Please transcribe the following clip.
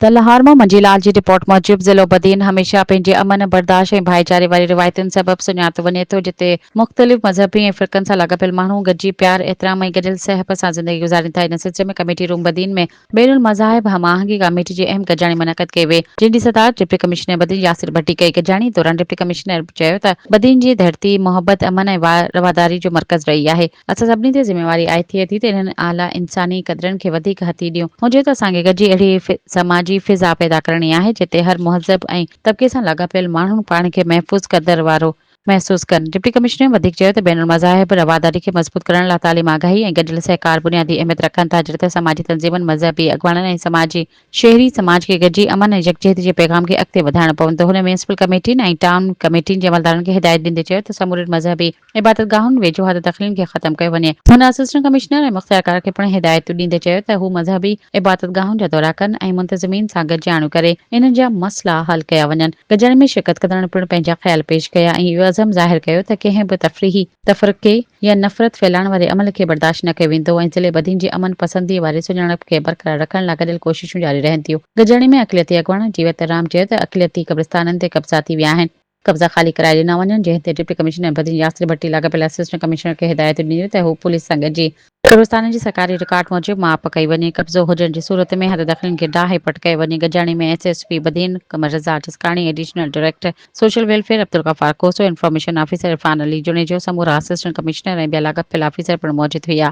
تلهارمو، منجي لال جي رپورٽ موجب ضلعو بدين هميشه پنهنجي امن، برداشت ۽ ڀائيچاري واري روايتن سبب سڃاتو وڃي ٿو جتي مختلف مذهبي ۽ فرقن سان لاڳاپيل ماڻهو گڏجي پيار، احترام ۽ گڏيل سهپ سان زندگي گذارين ٿا ان سلسلي ۾ ڪميٽي روم بدين ۾ بين المذاهب هم آهنگي ڪاميٽي جي اهم گڏجاڻي منعقد ڪئي وئي جنهن جي صدارت ڊپٽي ڪمشنر بدين ياسر ڀٽي ڪئي گڏجاڻي دوران ڊپٽي ڪمشنر چيو ته بدين جي ڌرتي محبت، امن ۽ رواداري جو مرڪز رهي آهي. اسان سڀني تي ذميواري آهي ٿئي ٿي ته انهن اعليٰ انساني قدرن کي وڌيڪ هٿي ڏيون. هجي ته اسان کي گڏجي اهڙي سماجي فضا پيدا ڪرڻي آهي جتي هر مهذب ۽ طبقي سان لاڳاپيل ماڻهو پاڻ کي محفوظ قدر وارو محسوس ڪن. ڊپٽي ڪمشنر وڌيڪ چيو ته بين المذاهب رواداري کي مضبوط ڪرڻ لاء تعليم آگاهي ۽ گڏيل سهڪار بنيادي اهميت رکن ٿا جڏهن ته سماجي تنظيمن، مذهبي اڳواڻن ۽ سماجي شهري سماج کي گڏجي امن ۽ يڪجهتي جي پيغام کي اڳتي وڌائڻو پوندو. هن ميونسپل ڪميٽين ۽ ٽائون ڪميٽين جي عملدارن کي هدايت ڏيندي چيو ته سمورين مذهبي عبادتگاهن ويجهو حد دخلين کي ختم ڪيو وڃي. هن اسسٽنٽ ڪمشنر ۽ مختيارڪار کي پڻ هدايتون ڏيندي چيو ته هو مذهبي عبادتگاهن جا دورا ڪن ۽ منتظمين سان گڏجاڻيون ڪري انهن جا مسئلا حل ڪيا وڃن. گڏجاڻي ۾ شرڪت ڪندڙن پڻ پنهنجا خيال پيش ڪيا ۽ اهو عزم ظاهر ڪيو ته ڪنهن به تفريحي تفرقي، يا نفرت ڦهلائڻ واري عمل کي برداشت نه ڪيو ويندو ۽ ضلعي بدين جي امن پسندي واري سڃاڻپ کي برقرار رکڻ لاء گڏيل ڪوششون جاري رهن ٿيون. گڏجاڻي ۾ اقليتي اڳواڻ جيوت رام چيو ته اقليتي قبرستانن تي قبضا ٿي ويا آهن، قبضا خالي ڪرائي ڏنا وڃن جنهن تي ڊپٽي ڪمشنر بدين ياسر ڀٽي لاڳاپيل اسسٽنٽ ڪمشنر کي هدايتون ڏنيون ته هو پوليس سان گڏجي قبرستانن جي سرڪاري رڪارڊ موجب ماپ ڪئي وڃي، قبضو هجڻ جي صورت ۾ هر دخلين کي ڊاهي پٽ ڪيو وڃي، گڏجاڻي ۾ S S P Badin Qamar Raza Jaskani, additional director. Social welfare Abdul Ghaffar Khoso, information officer Irfan Ali Junejo, سمورا اسسٽنٽ ڪمشنر ۽ ٻيا لاڳاپيل آفيسر پڻ موجود هئا.